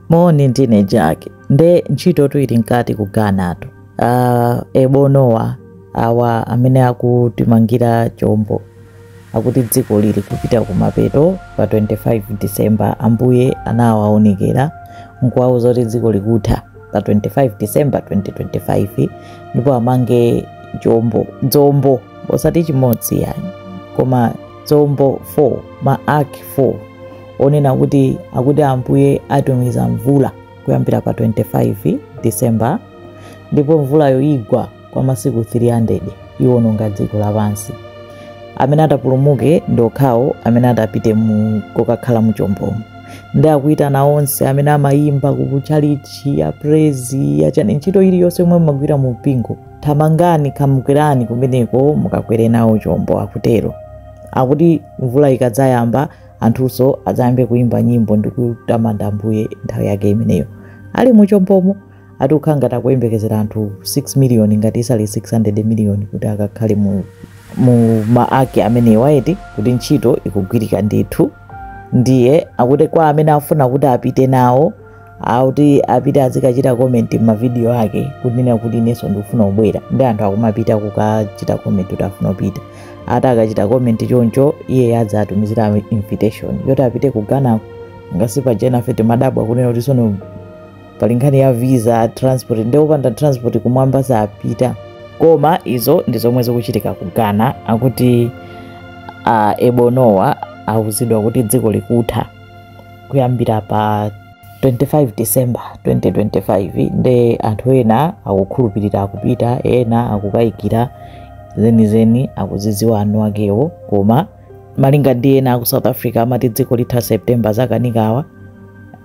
moni ndine Jack nde ntchitotu ili mkati ku Ghanatu uh, Ebo Noah awa amene akutimangira chombo akuti dziko lili kupita kumapeto pa 25 december ambuye anawaonekera nkuwauza zoti dziko likutha pa 25 december 2025 ndipo amange chombo dzombo osati chimodzi iyayi koma dzombo 4 ma ark 4 onena kuti akuti ambuye atumiza mvula kuyambira pa 25 december ndipo mvulayo igwa kwa masiku 300 iwononga dziko lapansi amene atapulumuke ndi okhawo amene atapite mu kokakhala muchombomo nde akuyitana onse amene amayimba ku tchalitchi ya praise yachani ntchito iliyonse yomwe mumagwira mu mpingo Thamangani, khamukirani kumeneko mukakwere nawo chombo, akutero. Akuti mvula ikadzayamba, anthunso adzayambe kuimba nyimbo ndi kutamanda Ambuye nthawi yake imeneyo. Ali mu chombomo, ati kukhala ngati akuyembekezera anthu 6 miliyoni ngati sali 600 miliyoni kuti akakhale mu, mu ma ark amenewa eti kuti ntchito ikugwirika ndithu. Ndiye akuti kwa amene afuna kuti apite nawo, akuti apite azikachita comment m'ma video ake kunena kuti inenso ndikufuna kubwera nde anthu akumapita kukachita comment kuti afuna kupita ati akachita comment choncho iye adzawatumizira invitation yoti apite ku ghana ngasi pa jena fete mmadabwa kunena kuti sono pali nkhani ya visa transport nde opanda transport kumwamba sapita koma izo ndi zomwe zikuchitika ku ghana akuti uh, Ebo Noah auzidwa kuti dziko likutha kuyambira pa 25 december 2025 nde anthu ena akukhulupirira akupita ena akukayikira zenizeni akuzidziwa eni akewo koma malinga ndi ena aku south africa amati dziko litha september zakanikawa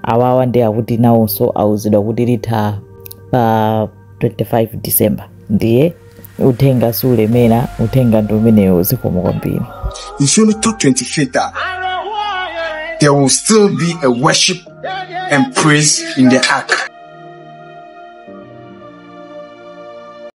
awawa nde akuti nawonso auzidwa kuti litha pa 25 december ndiye uthenga siulemera uthenga ndi umenewo zikomo kwambiri Mfundo 228 There will still be a worship and praise in the ark.